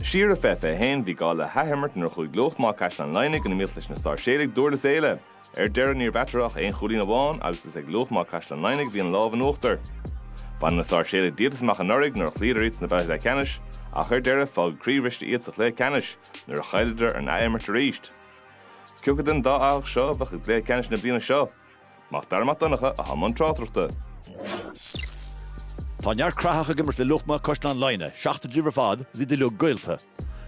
Siar i bhfiche fiche a haon, bhí gá le hathimirt nuair a chuaigh Luachma Caisleán Laighnigh in iomaíocht leis na Sáirséalaigh Dúrlas Éile. Ar deireadh, ní raibh eatarthu ach aon chúilín amháin agus is ag Luachma Caisleán Laighnigh a bhí an lámh in uachtar. Bhain na Sáirséalaigh díoltas amach anuraidh nuair a chloíodar iad sna babhtaí leathcheannais ach ar deireadh, fágadh croíbhriste iad sa chluiche ceannais nuair a chailleadar an athimirt arís. Cé acu den dá fhathach seo a bheadh i gcluiche ceannais na bliana seo? Mac Dara Mac Donncha i mbun tráchtaireachta. Tá neart Craitheach ag imirt le Luachma Caisleán Laighnigh, seachtar díobh ar fad is iad uilig gaolta.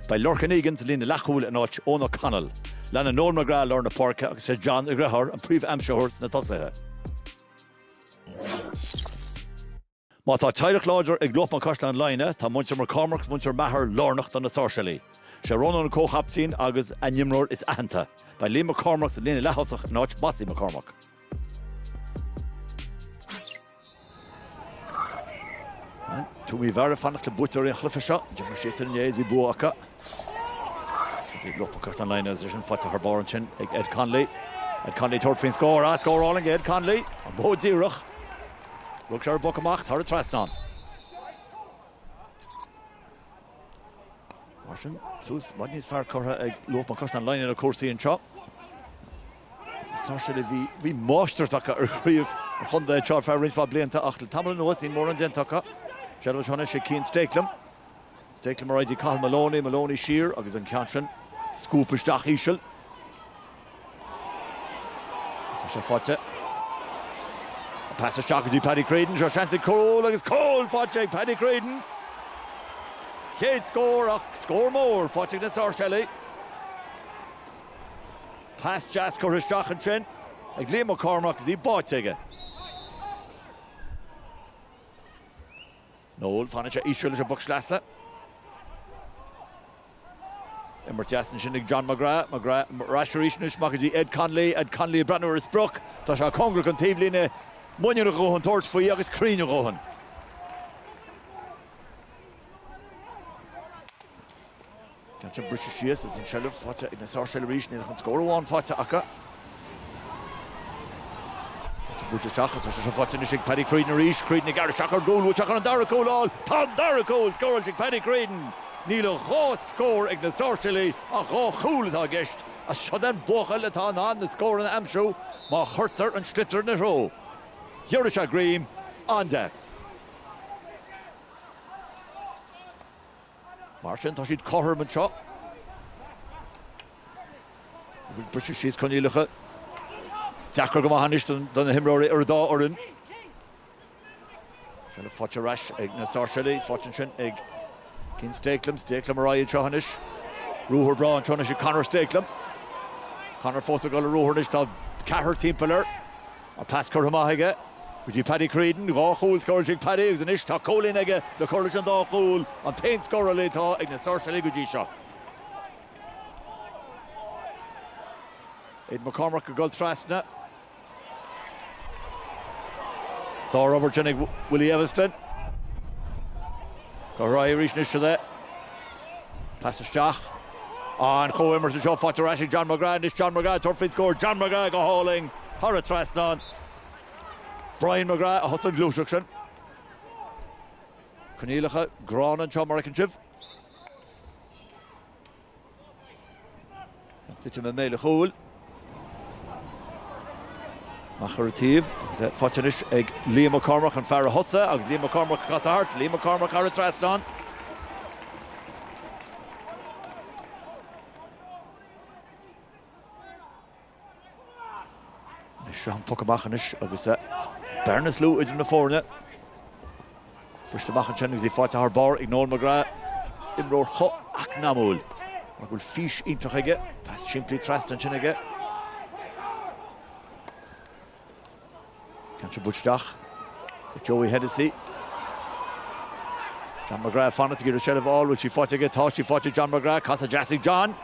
Beidh Lorcan Egan sa líne leathchúil in áit Eoin O'Connell. Leanann Noel McGrath i lár na páirce agus sé John a dheartháir an príomh-aimsitheoir sna tosaithe. Má tá teaghlach láidir ag Luachma Caisleán Laighnigh, tá muintir McCormack 's muintir Maher lárnach do na Sáirséalaigh. Sé Rónán an comhchaiptín agus a n-imreoir is aitheanta. Beidh Liam McCormack sa líne leath-thosach in áit Mossie McCormack. Tuaim Uí Mheára ag fanacht le buaiteoirí an chluiche seo. D'imir siadsan inné is bhí bua acu. Luachma Caisleán Laighnigh agus é sin faighte thar barr ansin ag Ed Connolly. Ed Connolly ag tabhairt faoin scór, ah, scór álainn ag Ed Connolly, an bó díreach. Rug sé ar boc amach thar an trasnán. Martin tús níos fearr curtha ag Luachma Caisleán Laighnigh ar chúrsaí anseo. Sáirséalaigh, bhí máistreacht acu ar chraobh an chontae anseo ar feadh roinnt mhaith blianta ach le tamall anuas níl mórán déanta acu. Sé do Sheáin Uisigh, Cian Stakelum. Stakelum ar aghaidh go dtí Cathal Moloney, Moloney siar agus an ceann sin scuabtha isteach íseal. Tá sé faighte. An pas isteach go dtí Paddy Creedon, seo seans ar chúl agus cúl faighte ag Paddy Creedon. Chéad scór ach scór mór faighte ag na Sáirséalaigh. Pas deas curtha isteach ansin ag Liam McCormack, bhí báite aige. Noel, Fanann sé íseal leis an bpoc sleasa. Imirt deas ansin ag John McGrath. McGrath ar ais arís anois amach go dtí Ed Connolly. Ed Connolly ag breathnú ar an sprioc. Tá sé cóngarach don taobhlíne. Muinín a dhóthain tabhairt faoi agus cruinn a dhóthain. Ceann sin briseadh síos ach an tseilbh faighte ag na Sáirséalaigh arís, níl ach an scór amháin faighte acu. Pointe buailte isteach agus tá sé seo faighte anois ag Paddy Creedon arís, Creedon ag gearradh isteach ar gcúl, bhuaiteach chun an dara cúl a fháil. Tá an dara cúl scóráilte ag Paddy Creedon! Níl ach dhá scór ag na Sáirséalaigh ach dhá chúl atá i gceist. Is seo é an buachaill atá in ann na scóranna a aimsiú má chuirtear an sliotar ina threo. Ghearradh sé greim an-deas. Mar sin, tá siad cothrom anseo. Bhí briseadh síos coinníollacha deacair go maith anois do na himreoirí ar an dá fhoireann. Déanadh faighte ar ais ag na Sáirséalaigh, faighte ansin ag Cian Stakelum. Stakelum ar aghaidh anseo anois. Ruathar breá anseo anois ag Conor Stakelum. Conor fós ag dul i ruathar anois, tá ceathrar timpeall air. An pas curtha amach aige go dtí Paddy Creedon. Dhá chúl scóráilte ag Paddy agus anois tá cúilín aige le cur leis an dá chúl, an t-aon scórálaí atá ag na Sáirséalaigh go dtí seo. Aidan McCormack ag dul trasna. Sár-obair sin ag Willie Eviston. Go raibh arís anois le Pas isteach. An chomhimirt anseo faighte ar ais ag John McGrath anois, John McGrath ag tabhairt faoin scór, John McGrath go hálainn thar an trasnán. Brian McGrath a thosaigh an ghluaiseacht sin. Coinníollacha gránna anseo mar a fheiceann sibh. Ag titim i mbéal an chúil. Amach ar an taobh agus é faighte anois ag Liam McCormack, an fear a thosaigh agus Liam McCormack ag casadh thart. Liam McCormack thar an trasnán. Seo an poc amach anois agus bearna is lú idir na foirne. Briseadh amach ansin agus í faighte thar barr ag Noel McGrath, imreoir chomh heacnamúil mar go bhfuil fís iontach aige, pas simplí trasna ansin aige. Tá sé buailte isteach ag Joey Hennessy. John McGrath fanacht ag iarraidh seilbh a fháil, bhfuil sí faighte aige? Tá sí faighte ag John McGrath, casadh deas ag John.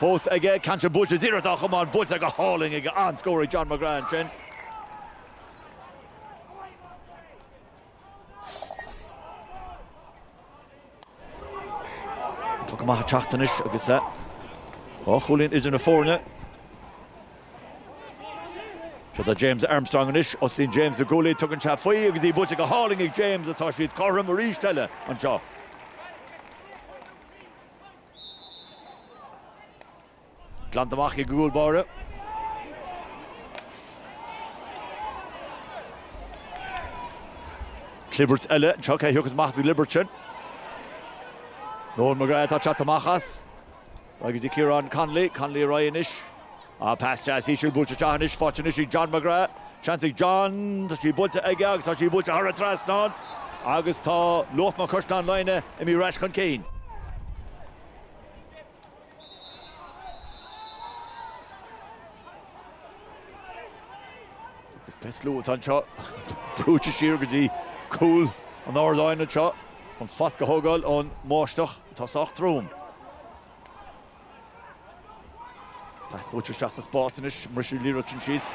Fós aige, ceann sé buailte, is iarracht á chomáint, buailte go hálainn aige, an-scór ag John McGrath ansin. Poc amach ag teacht anois agus é dhá chúilín idir na foirne. Seo do James Armstrong anois, osclaíonn James na guaillí, tugann sé faoi agus í buailte go hálainn ag James agus tá siad cothrom arís eile anseo. Glanta amach ag an gcúl báire. Clibirt eile anseo, cé thiocfas amach as an gclibirt sin? Noel McGrath atá ag teacht amach as. Ar aghaidh go dtí Ciarán Connolly, Connolly ar aghaidh anois. Á, pas deas íseal buailte isteach anois, faighte anois ag John McGrath. Seans ag John, tá sí buailte aige agus tá sí buailte thar an trasnán agus tá Luachma Caisleán Laighnigh imithe ar ais chun cinn. Is an slua atá anseo brúite siar go dtí cúl an ardáin anseo chun foscadh a thógáil ón mbáisteach atá sách trom. Pas buailte isteach sa spás anois, briseadh an liathróid sin síos.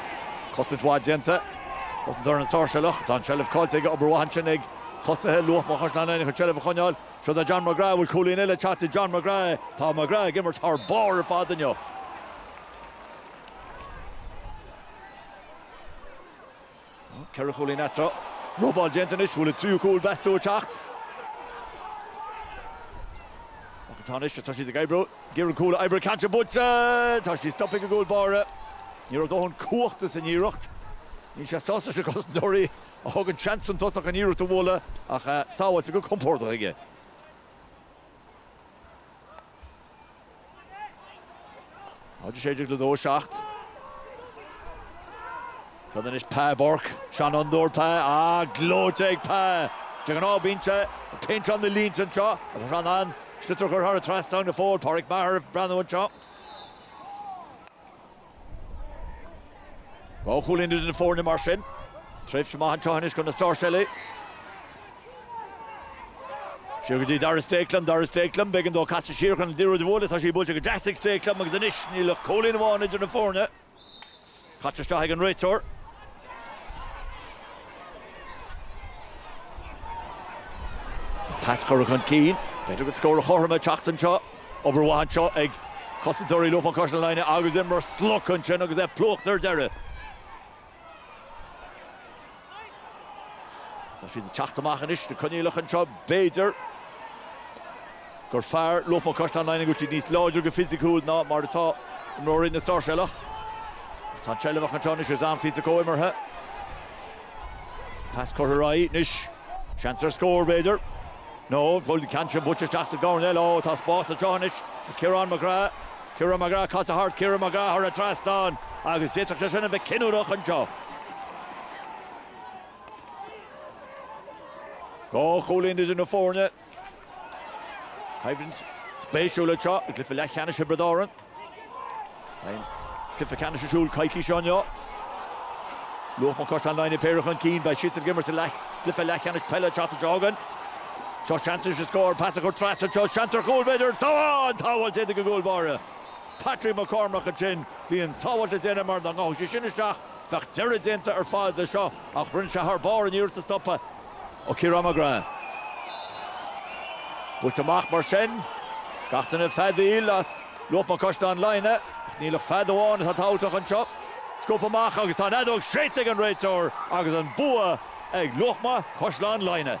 Cosaint mhaith déanta. Cosantóir na Sáirséalach. Tá an tseilbh caillte aige, obair mhaith ansin ag tosaithe Luachma Caisleán Laighnigh chun seilbh a choinneáil. Seo do John McGrath. Bhfuil cúilín eile ag teacht do John McGrath? Tá McGrath ag imirt thar barr ar fad inniu. Ceithre chúilín eatarthu. Robáil déanta anois. Bhfuil a tríú cúl meas tú ag teacht? Ach tá anois tá siad ag oibriú. Ghearr an cúl oibre caite buailte. Tá sí stoptha ag an gcúl báire. Ní raibh dóthain cumhachta san iarracht. Níl sé sásta leis na cosantóirí. a thugann seans don tosach an iarracht a bhualadh ach sábháilte go compordach aige. Áit is féidir le 2-7. Seo anois Pa Bourke, seanfhondúir Pa, á gleoite ag Pa. De ghnáth bíonn sé ag péinteáil na línte anseo ach tá sé in ann an sliotar a chur thar an trasnán go fóill. Pádraic Maher ag breathnú anseo. Dhá chúilín idir na foirne mar sin. Tréimhse maith anseo anois do na Sáirséalaigh. Siar go dtí Darragh Stakelum, Darragh Stakelum, b'éigean dó casadh siar chun an liathróid a bhualadh, tá sí buailte go deas ag Stakelum agus anois níl ach cúilín amháin idir na foirne. Caite isteach ag an réiteoir. Pas curtha chun cinn. B'fhéidir go scór a chothrom ag teacht anseo. Obair mhaith anseo ag cosantóirí Luachma Caisleán Laighnigh agus Denis Maher slogtha ansin agus é plúchta ar deireadh. Tá siad ag teacht amach anois, na coinníollacha anseo, b'fhéidir. gur fearr Luachma Caisleán Laighnigh cuid níos láidre go fisiciúil ná mar atá imreoirí na Sáirséalach. Ach tá an tseilbh acu anseo anois agus an-phíosa comhimeartha. Pas curtha ar aghaidh anois. Seans ar scór, b'fhéidir. No, an bhfuil an ceann sin buailte isteach sa gcoirnéal? Ó, tá spás anseo anois ag Ciarán McGrath. Ciarán McGrath, casadh thart. Ciarán McGrath thar an trasnán agus d'fhéadfadh sé sin a bheith cinniúnach anseo. Dhá chúilín idir na foirne. Coimhlint spéisiúil anseo i gcluiche leathcheannais Thiobraid Árann. An cluiche ceannais ar siúl coicís seo inniu. Luachma Caisleán Laighnigh péire chun cinn, beidh siad ag imirt sa cluiche leathcheannais peile an tseachtain seo chugainn. Seo seans leis an scór, pas curtha trasna anseo, seans ar chúl b'fhéidir, an-tsábháilt déanta ag an gcúl báire Patrick McCormack ansin. Bhí an tsábháilt le déanamh mar dá ngabhadh sé sin isteach, bheadh deireadh déanta ar fad leis seo, ach rinne sé thar barr an iarracht a stopadh. ó Ciarán McGrath. Buailte amach mar sin. Gach duine ag feadaíl as Luachma Caisleán Laighnigh, ach níl ach fead amháin atá tabhachtach anseo. Scuabtha amach agus tá an fheadóg séidte ag an réiteoir agus an bua ag Luachma Caisleán Laighnigh.